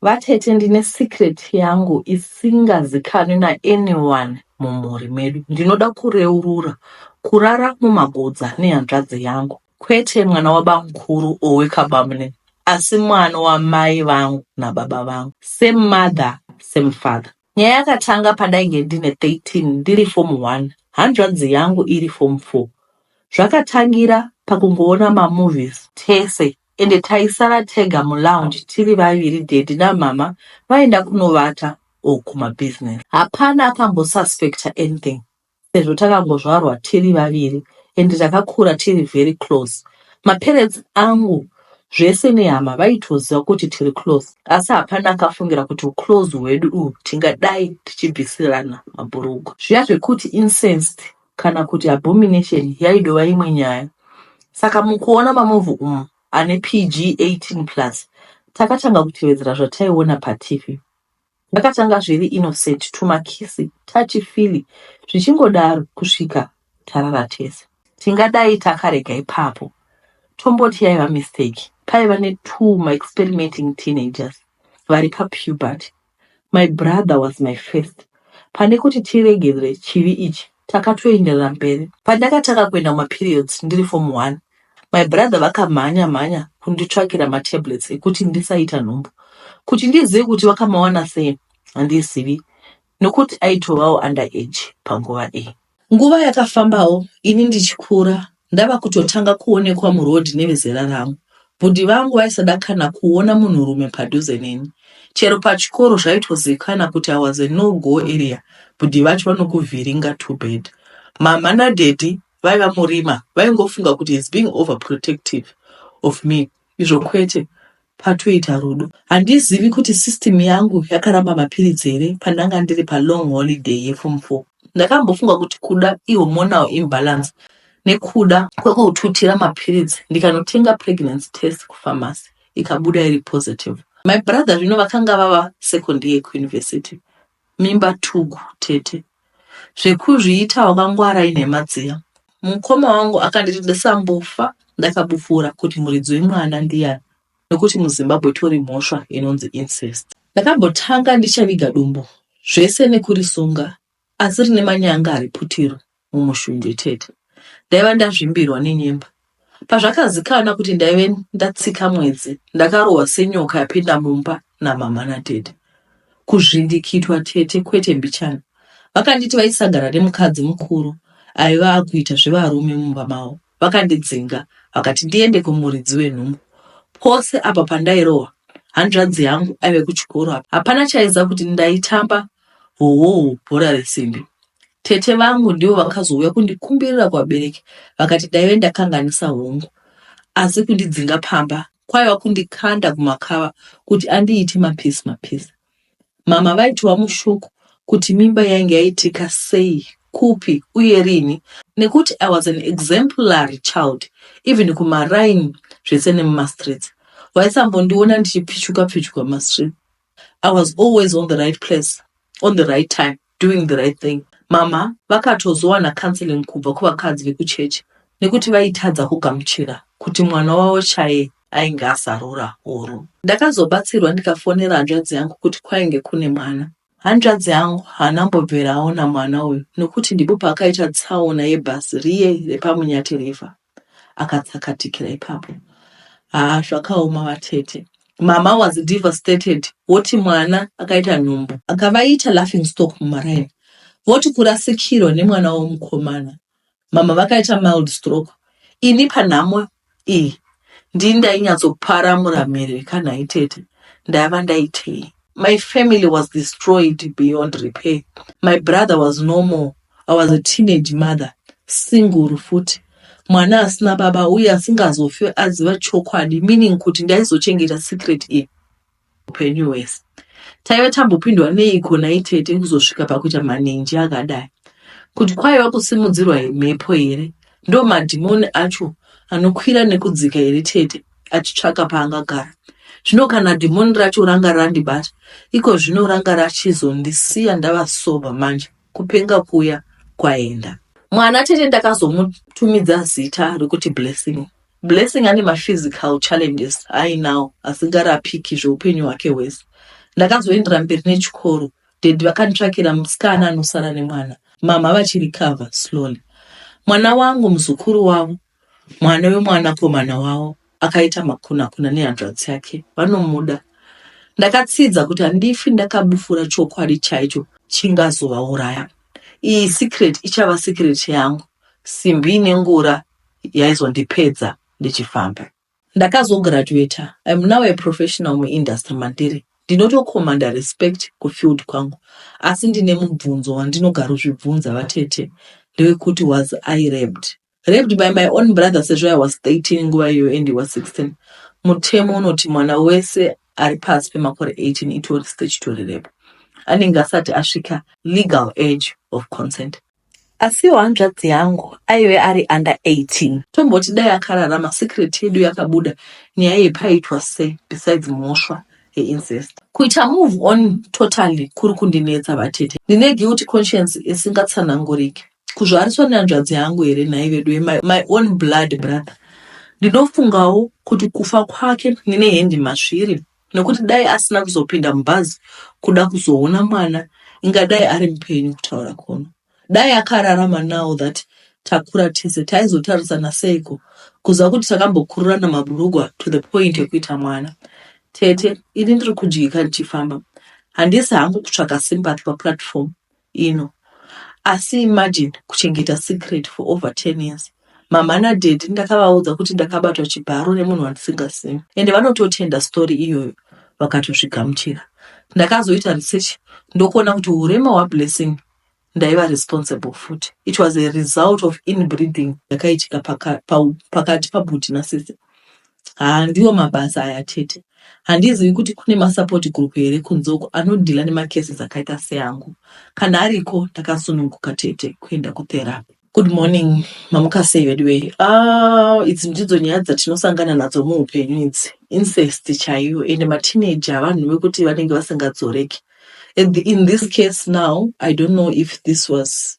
Vatete ndine secret yangu isingazikanwi na anyone mumhuri medu. Ndinoda kureurura kurara mumagodza nehanzvadzi yangu. Kwete mwana wabamkuru or wekabamnn asi mwana wamai vangu nababa vangu. Same mother same father. Nyaya yakatanga pandainge ndine 13 ndiri form one hanzvadzi yangu iri form four. Zvakatangira pakungoona mamovies tese ende taisara tega mulounge tiri vaviri daddy namhamha vaenda kunovata or kumabusiness. Hapana akambosuspecter anything sezvo takangozvarwa tiri vaviri ende takakura tiri very close. Maparents angu zvese nehama vaitoziva kuti tiri close asi hapana akafungira kuti uclose hwedu uhu tingadai tichibvisirana mabhurugwa. Zviya zvekuti incensed kana kuti abomination yaidova imwe nyaya saka mukuona mamovhi umu ane pg 18 plus takatanga kutevedzera zvataiona patv ndakatanga zviri innocent tumakisi tachi fili zvichingodaro kusvika tarara tese tingadai takarega ipapo tomboti yaiva mistake paiva ne two ma experimenting teenagers vari papuberty My brother was my first pane kuti tiregerere chivi ichi takatoenderera mberi. Pandakatanga kuenda kumaperiods ndiri form one my brother vakamhanya mhanya kunditsvakira matablets ekuti ndisaita nhumbu. Kuti ndizive kuti vakamawana sei handizivi nokuti aitovawo under age panguva iyi. Nguva yakafambawo ini ndichikura ndava kutotanga kuonekwa muroad nevezera rangu. Bhudhi vangu vaisada kana kuona munhurume padhuze neni. Chero pachikoro zvaitozikana kuti I was a no go area bhudhi vacho vanokuvhiringa too bad. Mhamha nadaddy vaiva murima vaingofunga kuti he's being overprotective of me izvo kwete Patoita rudo handizivi kuti system yangu yakaramba mapiritsi here pandanga ndiri palong holiday yeform four. Ndakambofunga kuti kuda ihormonal imbalance nekuda kwekututira mapiritsi ndikanotenga pregnancy test kufamasi ikabuda iri positive. My brother zvino vakanga vava second year kuuniversity mimba tugu tete zvekuzviita wakangwara inhema dziya mukoma wangu akanditi ndisambofa ndakabufura kuti muridzi wemwana ndiyani nekuti muzimbabwe tori mhosva inonzi incest ndakambotanga ndichaviga dumbu zvese nekurisunga asi rine manyanga ari putiro mumushunje chete. Ndaiva ndazvimbirwa nenyemba. Pazvakazikana kuti ndaive ndatsika mwedzi, ndakarohwa senyoka yapinda mumba namama natete. Kuzvindikitwa tete kwete mbichana. Vakanditi vaisangana nemukadzi mukuru aiva akuita zvevarume mumba mavo. Vakandidzinga vakati ndiende kumuridzi wenhumbu. Pose apa pandairohwa hanzvadzi yangu aive kuchikoro apa, hapana chaiziva kuti ndaitamba howowo bhora resimbi. Tete vangu ndivo vakazouya kundikumbirira kuvabereki vakati ndaive ndakanganisa hongu, asi kundidzinga pamba kwaiva kundikanda kumakava kuti andiite mapisi mapisi. Mhamha vaitiwa mushuku kuti mimba yainge yaitika sei, kupi uye rini nekuti I was an exemplary child even kumaraini zvese nemumastreets. Vaisambondiona ndichipichuka pichuka mumastreets. I was always on the right place on the right time. doing the right thing mama vakatozowana counseling kubva kuvakadzi vekuchechi nekuti vaitadza kugamuchira kuti mwana wavo chaye ainge azarura huru ndakazobatsirwa ndikafonera hanzvadzi yangu kuti kwainge kune mwana hanzvadzi yangu haana mbobvera aona mwana uyu nokuti ndipo paakaita tsaona yebhasi riye repamunyati river akatsakatikira ipapo haa zvakaoma vatete mama was devastated woti mwana akaita nhumbu akavaita laughing stock mumaraini voti kurasikirwa nemwana womukomana mama vakaita mild stroke ini panhamo iyi ndini ndainyatsopara muramiri kana itete ndaiva ndaitei My family was destroyed beyond repair. My brother was no more. I was a teenage mother, single futi. Mwana asina baba uye asingazofe aziva chokwadi meaning kuti ndaizochengeta secret iyi upenyu hwese. Taive tambopindwa neiko naitete kuzosvika pakuita manenji akadai. Kuti kwaiva kusimudzirwa mhepo here? Ndo madhimoni acho anokwira nekudzika here tete? achitsvaka paangagara zvino kana dhimoni racho ranga randibata iko zvino ranga rachizondisiya ndava sober manje kupenga kuya kwaenda mwana tete ndakazomutumidza zita rekuti blessing blessing ane maphysical challenges ainawo asingarapiki zveupenyu hwake hwese ndakazoendera mberi nechikoro dedi vakanditsvakira musikana anosara nemwana mama vachirikava slowly mwana wangu muzukuru wavo Mwana wemwanakomana wavo akaita makunakuna nehanzvadzi yake, vanomuda. Ndakatsidza kuti handifi ndakabufura chokwadi chaicho chingazovauraya. Iyi secret ichava secret yangu. Simbi ine ngura yaizondipedza ndichifamba. Ndakazograduater, I'm now a professional muindustry mandiri. Ndinotokomanda respect kufield kwangu, asi ndine mubvunzo wandinogarozvibvunza vatete ndewekuti was I raped? raped by my own brother sezvo i was 13 nguva iyoyo and he was 16 mutemo unoti mwana wese ari pasi pemakore 18 itori statutory rape anenge asati asvika legal age of consent asiwo hanzvadzi yangu aive ari under 18 tomboti dai akararama secret yedu yakabuda nyaya yepaitwa se besides mhosva yeincest kuita move on totally kuri kundinetsa vatete ndine guilty conscience isingatsananguriki kuzvariswa nehanzvadzi yangu here nhai veduwe my, my own blood brother ndinofungawo kuti kufa kwake nine hendi masviri nekuti dai asina kuzopinda mubhazi kuda kuzoona mwana ingadai ari mupenyu kutaura kono dai akararama now that takura tese taizotarisana seiko kuziva kuti takambokururana maburugwa to the point ekuita mwana tete ini ndiri kudyika ndichifamba handisi hangu kutsvaka sympathy paplatform ino asi imagine kuchengeta secret for over 10 years mama nadaddy ndakavaudza kuti ndakabatwa chibharo nemunhu wandisingazivi ende vanototenda story iyoyo vakatozvigamuchira ndakazoita research ndokuona kuti urema hwablessing ndaiva responsible futi it was a result of inbreeding yakaitika pakati pabuti nasisi Haa ndiwo mabasa aya chete. Handizivi kuti kune masupport group here kunze uko anodhila nemacases akaita seangu. Kana ariko ndakasununguka tete kuenda kutherapy. Good morning mamuka sei veduwee ah idzi ndidzo nyaya dzatinosangana nadzo muupenyu idzi incest chaiyo and mateenager vanhu vekuti vanenge vasingadzoreki At the- in this case now i don't know if this was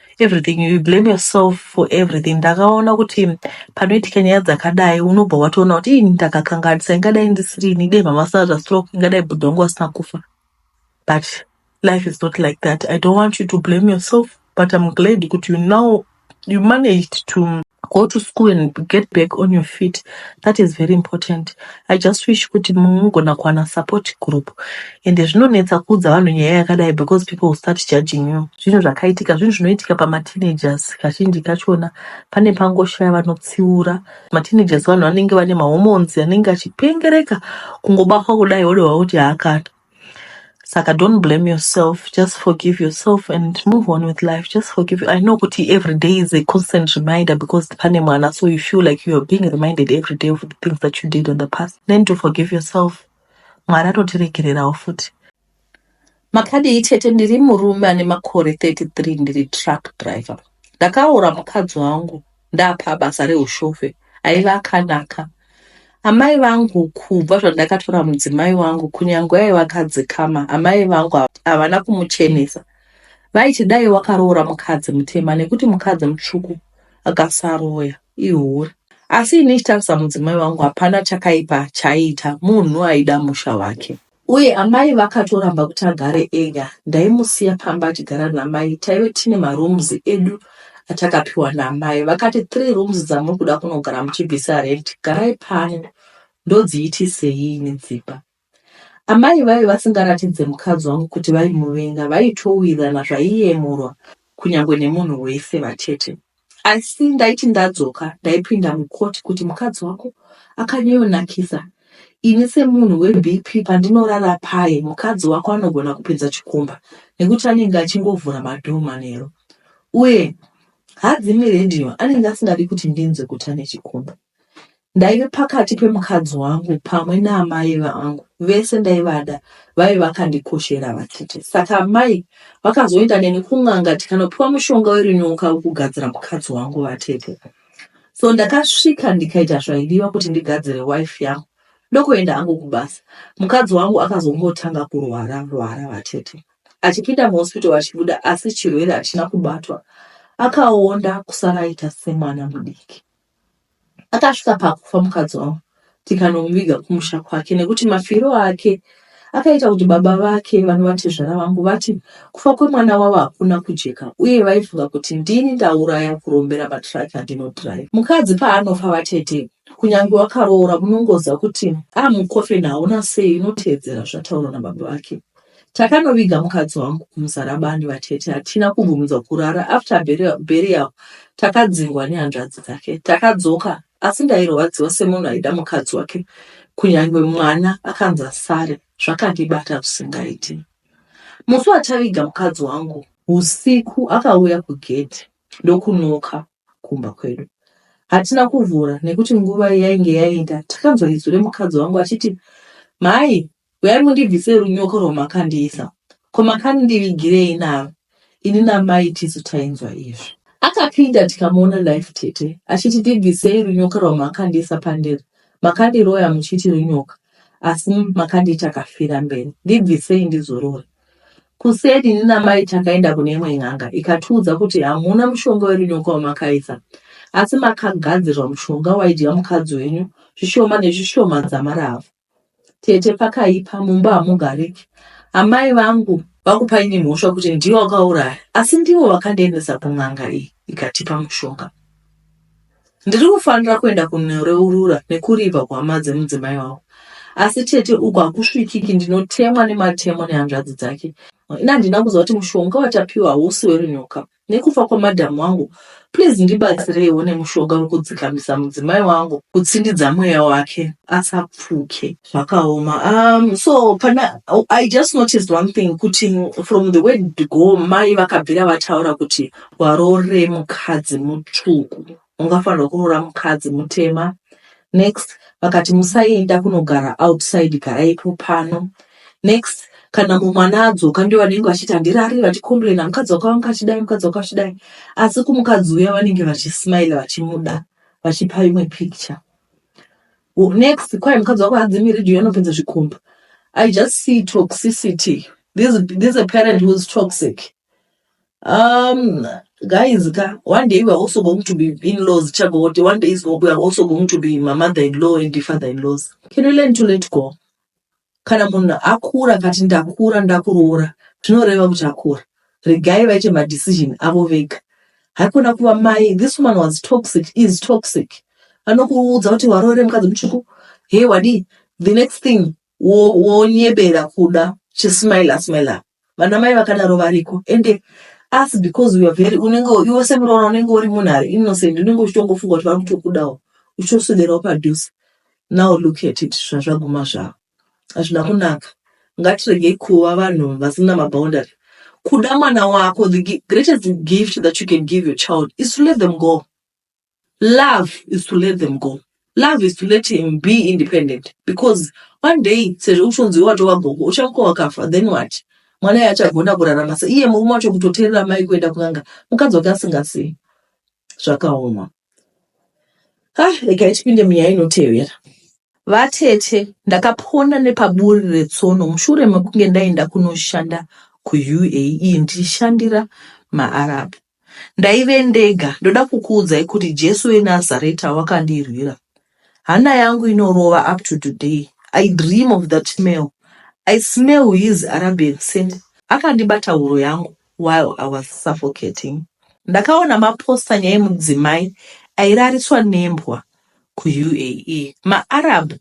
everything you blame yourself for everything ndakaona kuti panoitika nyaya dzakadai unobva watoona kuti ii ndakakanganisa ingadai ndisiri ini dai mama sara zvastroke ingadai bhudhi wangu asina kufa but life is not like that i don't want you to blame yourself but i'm glad kuti you now you managed to go to school and get back on your feet that is very important I just wish kuti mungona kuwana support group ende zvinonetsa kuudza vanhu nyaya yakadai because people will start judging you. Zvinhu zvakaitika zvinhu zvinoitika pamateenagers kazhinji kachona pane pangoshaya vanotsiura. Mateenagers vanhu vanenge vane mahormones anenge achipengereka kungobatwa kudai wodohwa kuti haakana. Saka don't blame yourself, just forgive yourself and move on with life. Just forgive. I know kuti every day is a constant reminder because pane mwana, so you feel like you are being reminded every day of the things that you did in the past. Learn to forgive yourself. Mwari atotiregererawo futi. Makadii chete ndiri murume ane makore 33 ndiri truck driver. Ndakaora mukadzi wangu ndapa basa rehushofe aive akanaka amai vangu kubva zvandakatora mudzimai wangu kunyange aiva kadzikama amai vangu havana kumuchenesa vaiti dai wakaroora mukadzi mutema nekuti mukadzi mutsvuku akasaroya ihure asi ini ichitarisa mudzimai wangu hapana chakaipa chaiita munhu aida musha wake Uye amai vakatoramba kuti agare ega. Ndaimusiya pamba achigara namai. Taive tine marooms edu atakapiwa namai. Vakati three rooms dzamuri kuda kunogara muchibvisa rent, garai pano. Ndodziitisei ini dzimba? Amai vaive vasingaratidze mukadzi wangu kuti vaimuvenga, vaitowirana zvaiyemurwa kunyangwe nemunhu wese vatete. asi ndaiti ndadzoka ndaipinda mukoti kuti mukadzi wako akanyayonakisa ini semunhu webp pandinorara paye mukadzi wako anogona kupedza chikomba nekuti anenge achingovhura madhoo manero uye hadzi miredhiyo anenge asingadi kuti ndinzwe kuti ane chikomba Ndaive pakati pemukadzi wangu pamwe naamai vangu vese ndaivada vaive vakandikoshera vatete. Saka amai vakazoenda neni kun'anga tikanopiwa mushonga werinyoka wekugadzira mukadzi wangu vatete. So ndakasvika ndikaita zvaidiwa kuti ndigadzire wife yangu ndokuenda hangu kubasa. Mukadzi wangu akazongotanga kurwara rwara vatete. Achipinda muhospital achibuda asi chirwere hachina kubatwa. Akaonda kusara aita semwana mudiki. Akasvika pakufa mukadzi wangu tikanomuviga kumusha kwake nekuti mafiro ake akaita kuti baba vake vanova tezvara vangu vati kufa kwemwana wavo hakuna kujeka uye vaifunga kuti ndini ndauraya kurombera matraki andinodrive. Mukadzi paanofa vatete kunyange wakaroora munongoziva kuti amukofen ah, hauna sei inoteedzera zvataurwa nababa vake. Takanoviga mukadzi wangu kumusarabani vatete hatina kumbomudza kurara after burial takadzingwa nehanzvadzi dzake takadzoka asi ndairwadziwa semunhu aida mukadzi wake kunyange mwana akanzi asare zvakandibata zvisingaiti musi wataviga mukadzi wangu usiku akauya kugedhi ndokunoka kumba kwedu hatina kuvhura nekuti nguva yainge yaenda takanzwa izwi remukadzi wangu achiti mhai Huyai mundibvise runyoko rwamakandiisa. Ko makandivigirei naro? Ini namai tisu tainzwa izvi. Akapinda tikamuona life tete achiti ndibvisei runyoka rwamakandiisa pandiri. Makandiroya muchiti runyoka asi makandiita kafira mberi. Ndibvisei ndizorore. Kuseni ini namai takaenda kune imwe n'anga ikatiudza kuti hamuna mushonga werunyoka wamakaisa asi makagadzirwa mushonga waidya mukadzi wenyu zvishoma nezvishoma dzamaravu. tete pakaipa mumba hamugariki amai vangu vakupa ini mhosva kuti ndiwo wakauraya asi ndiwo wakandiendesa kun'anga iyi ikatipa mushonga ndiri kufanira kuenda kunoreurura nekuriva kuhama dzemudzimai wavo asi tete uku hakusvikiki ndinotemwa nematemo nehanzvadzi dzake ini handina kuziva kuti mushonga watapiwa hausi werunyoka nekufa kwamadam wangu please ndibatsireiwo nemushonga wekudzikamisa mudzimai wangu kutsindidza mweya wake asapfuke zvakaoma um, so pana i just noticed one thing kuti from the word go mai vakabvira vataura kuti warore mukadzi mutsvuku ungafanirwa kuroora mukadzi mutema next vakati musaenda kunogara outside garaipo pano next kana mumwana adzoka ndiwo vanenge vachiti handirari vachicomplaina mukadzi wako vanga achidai mukadzi wako achidai asi kumukadzi uya vanenge vachismile vachimuda vachipa imwe picture next kwai mukadzi wako hadzimiridhi uyo anopedza zvikomba i just see toxicity this, this a parent who's toxic Um, guys, ka, one day we are also going to be in-laws, Chagote. One day is go- we are also going to be my mother-in-law and the father-in-laws. Can we learn to let go? Kana munhu akura akati ndakura ndakuroora, zvinoreva kuti akura. Regai vaite madecision avo vega. Haikona kuva mai, this woman was toxic, is toxic. Anokuudza kuti waroore mukadzi mutsvuku, hey wadii, the next thing wo- wonyebera kuda chismile asmile vana mai vakadaro variko ende asi because we are very unenge iwe semuroora unenge uri munhu ari innocent unenge uchitongofunga kuti vari kutokudawo uchitoswederawo padhuze now look at it zvazvaguma zvavo hazvina kunaka ngatiregei kuva vanhu vasina maboundary kuda mwana wako the greatest gift that you can give your child is to let them go love is to let them go love is to let him be independent because one day sezvo uchonzi watova gogo uchamuka wakafa then what mwana iye achagona kurarama se iye murume wacho kutoteerera mai kuenda kunanga mukadzi wake asingasiyi zvakaoma ah rega itipinde munyaya inotevera vatete ndakapona nepaburi retsono mushure mekunge ndaenda kunoshanda kuuae ndichishandira maarabu Ndaive ndega, ndoda kukuudzai kuti Jesu weNazareta wakandirwira. Hana yangu inorova up to today. I dream of that smell. I smell his Arabian scent. Akandibata huro yangu while I was suffocating. Ndakaona mapostanya emudzimai airariswa nembwa kuUAE ma Arab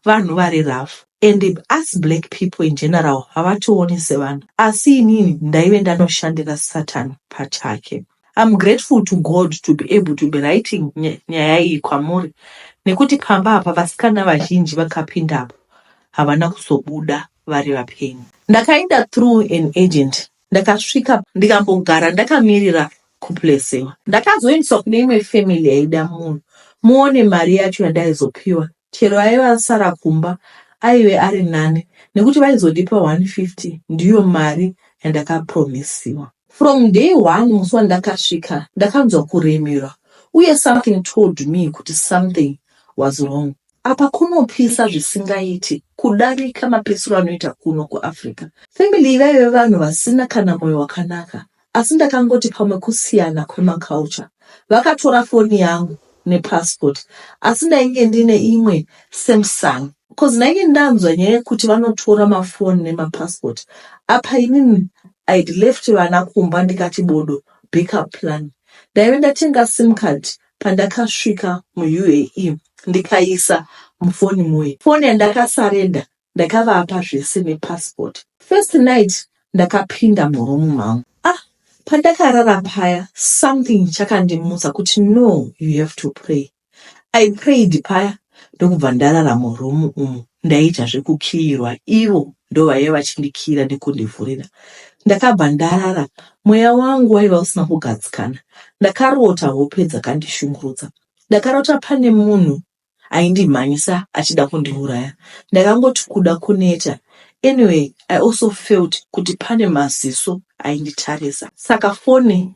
vanhu vari rough and us black people in general havationi sevanhu asi inini ndaive ndanoshandira Satan pachake. I'm grateful to God to be able to be writing nyaya iyi kwamuri nekuti pamba apa vasikana vazhinji vakapindapo havana kuzobuda vari vapenyu. Ndakaenda through an agent Ndakasvika ndikambogara ndakamirira kuplacewa. Ndakazoendeswa kune imwe family yaida munhu. Muone mari yacho yandaizopiwa. Chero aive asara kumba aive ari nani nekuti vaizondipa 150 ndiyo mari yandakapromisiwa. From day one musi wandakasvika ndakanzwa kuremerwa uye something told me kuti something was wrong. Apa kunopisa zvisingaiti kudarika mapisiro anoita kuno kuAfrica. Family iyi vaive vanhu vasina kana moyo wakanaka asi ndakangoti pamwe kusiyana kwemaculture. Vakatora foni yangu nepassport asi ndainge ndine imwe Samsung cause ndainge ndanzwa nyaya yekuti vanotora mafoni nemapassport. Apa inini I'd left vana kumba ndikati bodo backup plan. Ndaive ndatenga sim card pandakasvika muUAE ndikaisa mufoni muye foni yandakasarenda ndakavapa zvese nepassport first night ndakapinda muroom mangu ah pandakarara paya something chakandimutsa kuti no you have to pray i prayed paya ndokubva ndarara muroom umu ndaita zvekukiirwa ivo ndovaive vachindikiira nekundivhurira ndakabva ndarara mweya wangu waiva usina kugadzikana ndakarota hope dzakandishungurudza ndakarota pane munhu aindimhanyisa achida kundiuraya ndakangoti kuda kuneta anyway i also felt kuti pane maziso ainditarisa saka fone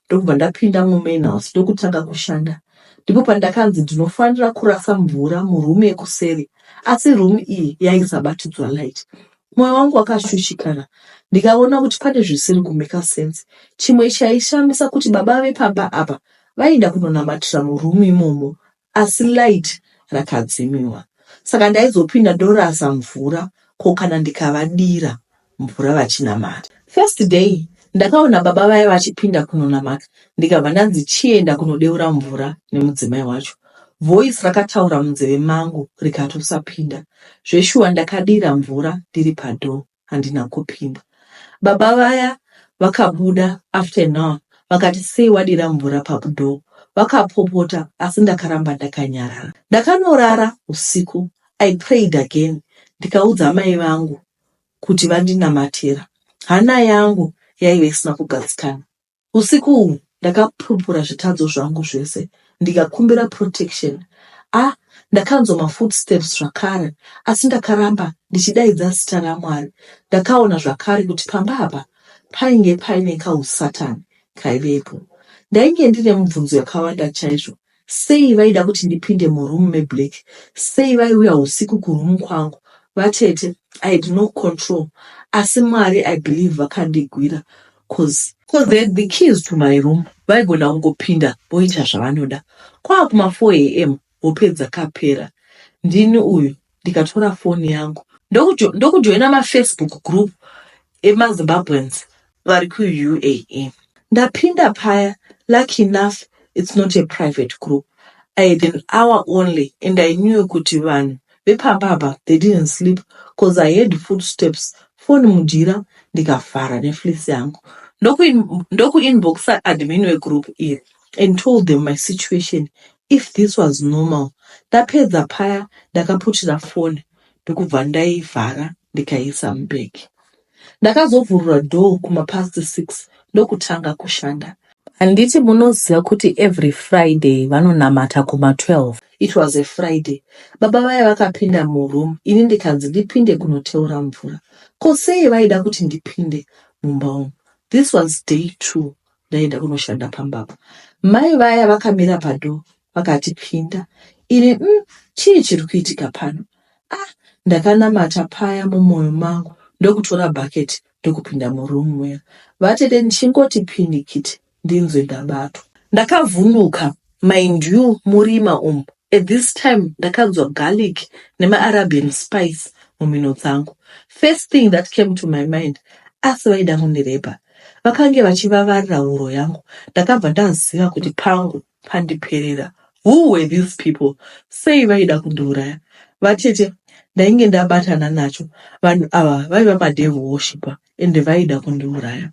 ndokubva ndapinda mumain house ndokutanga kushanda ndipo pandakanzi ndinofanira kurasa mvura muroom yekuseri asi room iyi yaisabatidzwa light mwoyo wangu wakashushikana ndikaona kuti pane zvisiri kumeka sense chimwe chaishamisa kuti baba vepamba apa vaienda kunonamatira muroom imomo asi light rakadzimiwa saka ndaizopinda ndorasa mvura ko kana ndikavadira mvura vachinamata. First day ndakaona baba vaya vachipinda kunonamata ndikabva ndanzi chienda kunodeura mvura nemudzimai wacho. Voice rakataura munzeve mangu rikatosapinda. Zveshuwa ndakadira mvura ndiri padoor. handina kupinda baba vaya vakabuda after an hour vakati sei wadira mvura pabudo vakapopota asi ndakaramba ndakanyarara ndakanorara usiku i prayed again ndikaudza mai vangu kuti vandinamatira hana yangu yaive isina kugadzikana Usiku uhu ndakapupura zvitadzo zvangu zvese ndikakumbira protection a ah, ndakanzwa mafootsteps zvakare asi ndakaramba ndichidaidza zita ramwari ndakaona zvakare kuti pamba apa painge paine kausatani kaivepo ndainge ndine mubvunzo yakawanda chaizvo Sei vaida kuti ndipinde muroom meblack? Sei vaiuya husiku kuroom kwangu? Vatete I had no control asi Mwari I believe vakandigwira coz coz they had the keys to my room vaigona kungopinda voita zvavanoda kwaa kuma 4 am hope dzakapera. Ndini uyu ndikatora foni yangu ndokujoina mafacebook group emazimbabweans vari kuuae ndapinda paya lucky enough its not a private group i had an hour only and i knew kuti vanhu vepamba apa they didn't sleep bcause i had food steps foni mujira ndikavhara neflis yangu ndokuinboxa admin wegroup iri and told them my situation if this was normal ndapedza paya ndakaputira foni ndokubva ndaivhara ndikaisa mubag ndakazovhurura door kumapast six ndokutanga kushanda handiti munoziva kuti every friday vanonamata kuma 12 it was a friday baba vaya vakapinda muroom ini ndikanzi ndipinde kunoteura mvura ko sei vaida kuti ndipinde mumba umu this was day two Ndaenda kunoshanda pamba apa. Mai vaya vakamira padoor vakati pinda. Ini mm, chii chiri kuitika pano? Ah, ndakanamata paya mumoyo mangu ndokutora bucket ndokupinda muroom muya. Vatete ndichingoti pinikiti ndinzwe ndabatwa. Ndakavhunduka Mind you murima umu at this time ndakanzwa garlic nemaarabian spice mumhino dzangu. First thing that came to my mind asi vaida kundirepa. Vakange vachivavarira huro yangu ndakabva ndaziva kuti pangu pandiperera. Who were these people? Sei vaida kundiuraya? Vatete ndainge ndabatana nacho vanhu ava vaiva madevil worshiper ende vaida kundiuraya.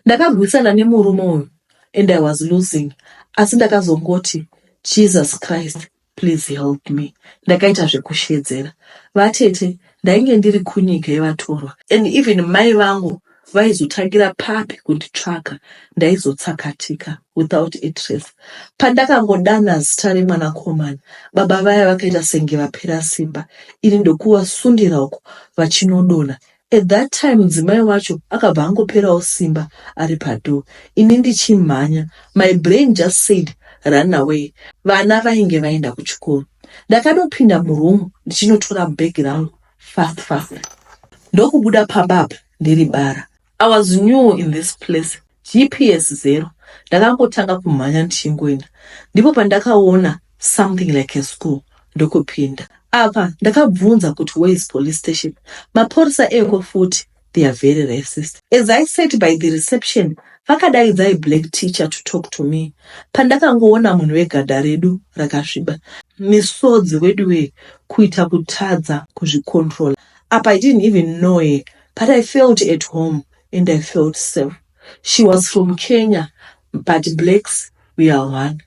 Ndakagwisana nemurume uyu and I was losing asi ndakazongoti Jesus Christ please help me. Ndakaita zvekushedzera vatete ndainge ndiri kunyika yevatorwa and even mai vangu vaizotangira papi kunditsvaga ndaizotsakatika without a trace. Pandakangodana zita remwanakomana baba vaya vakaita senge vapera simba ini ndokuvasundira uko vachinodonha At that time mudzimai wacho akabva angoperawo simba ari padoor ini ndichimhanya my brain just said run away vana vainge vaenda kuchikoro. Ndakadopinda muroom ndichinotora bag rangu fast fast ndokubuda pamba apa ndiri bara. I was new in this place GPS zero ndakangotanga kumhanya ndichingoenda ndipo pandakaona something like a school ndokupinda apa ndakabvunza kuti where is police station maporisa eko futi they are very racist as i sat by the reception vakadaidza iblack teacher to talk to me pandakangoona munhu wegadha redu rakasviba misodzi wedu wee kuita kutadza kuzvicontrola apa i didn't even know her but i felt at home and I felt safe. She was from Kenya but blacks we are one.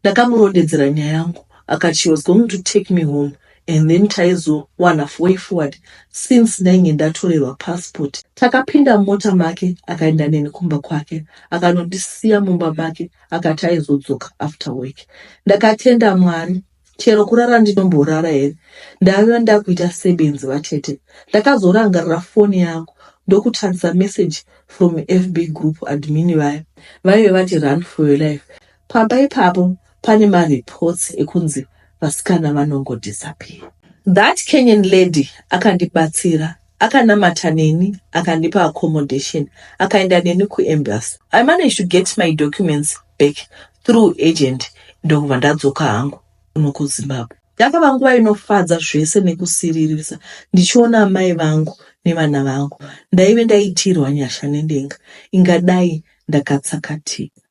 Ndakamurondedzera nyaya yangu akati she was going to take me home and then taizowana way forward since ndainge ndatorerwa passport. Takapinda mumota make akaenda neni kumba kwake akanondisiya mumba make akati aizodzoka after work. Ndakatenda Mwari chero kurara ndinomborara here ndaiva ndakuita sebenzi vatete ndakazorangarira foni yangu ndokutarisa message from fb group admin vaya vaive vati run for your life pamba ipapo pane mareports ekunzi vasikana vanongodisappear that kenyan lady akandibatsira akanamata neni akandipa accommodation akaenda neni kuembassy i managed to get my documents back through agent ndokubva ndadzoka hangu kuno kuzimbabwe ndakava nguva inofadza zvese nekusiririsa ndichiona amai vangu nevana vangu ndaive ndaitirwa nyasha nendenga ingadai ndakatsakatika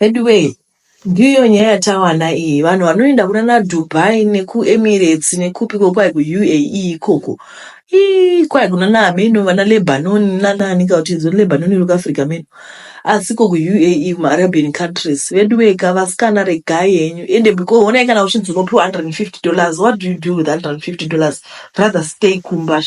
Veduwee ndiyo nyaya yatawana iyi vanhu vanoenda kunana Dubai nekuEmirates nekupiko kwai kuUAE ikoko ii kwai kunana ameno vana Lebanon nanaani kauti idzo Lebanon iri kuAfrica meno asi ko kuUAE kumaArabian countries veduwee ka vasikana regai henyu ende because honai kana uchinzi unopiwa 150 dollars what do you do with 150 dollars rather stay kumba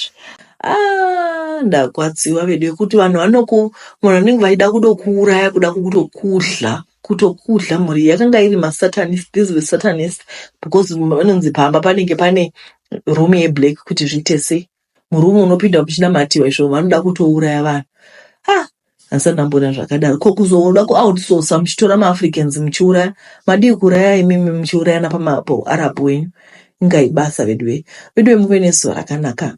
Ah, ndakwatsiwa vedu yekuti vanhu vanoku munhu vanenge vaida kutokuuraya kuda kutokudla kutokudla mhuri iyi yakanga iri masatanist these were satanist because vanonzi pamba panenge pane room yeblack kuti zviite sei murume unopinda muchinamatiwa izvo vanoda kutouraya vanhu Asi ndamboda zvakadaro. Ko kuzoona ku outsourcer muchitora ma Africans muchiuraya. Madii kuraya imimi muchiurayana pama po Arab wenyu. Inga ibasa veduwe. Veduwe muve nezuva rakanaka.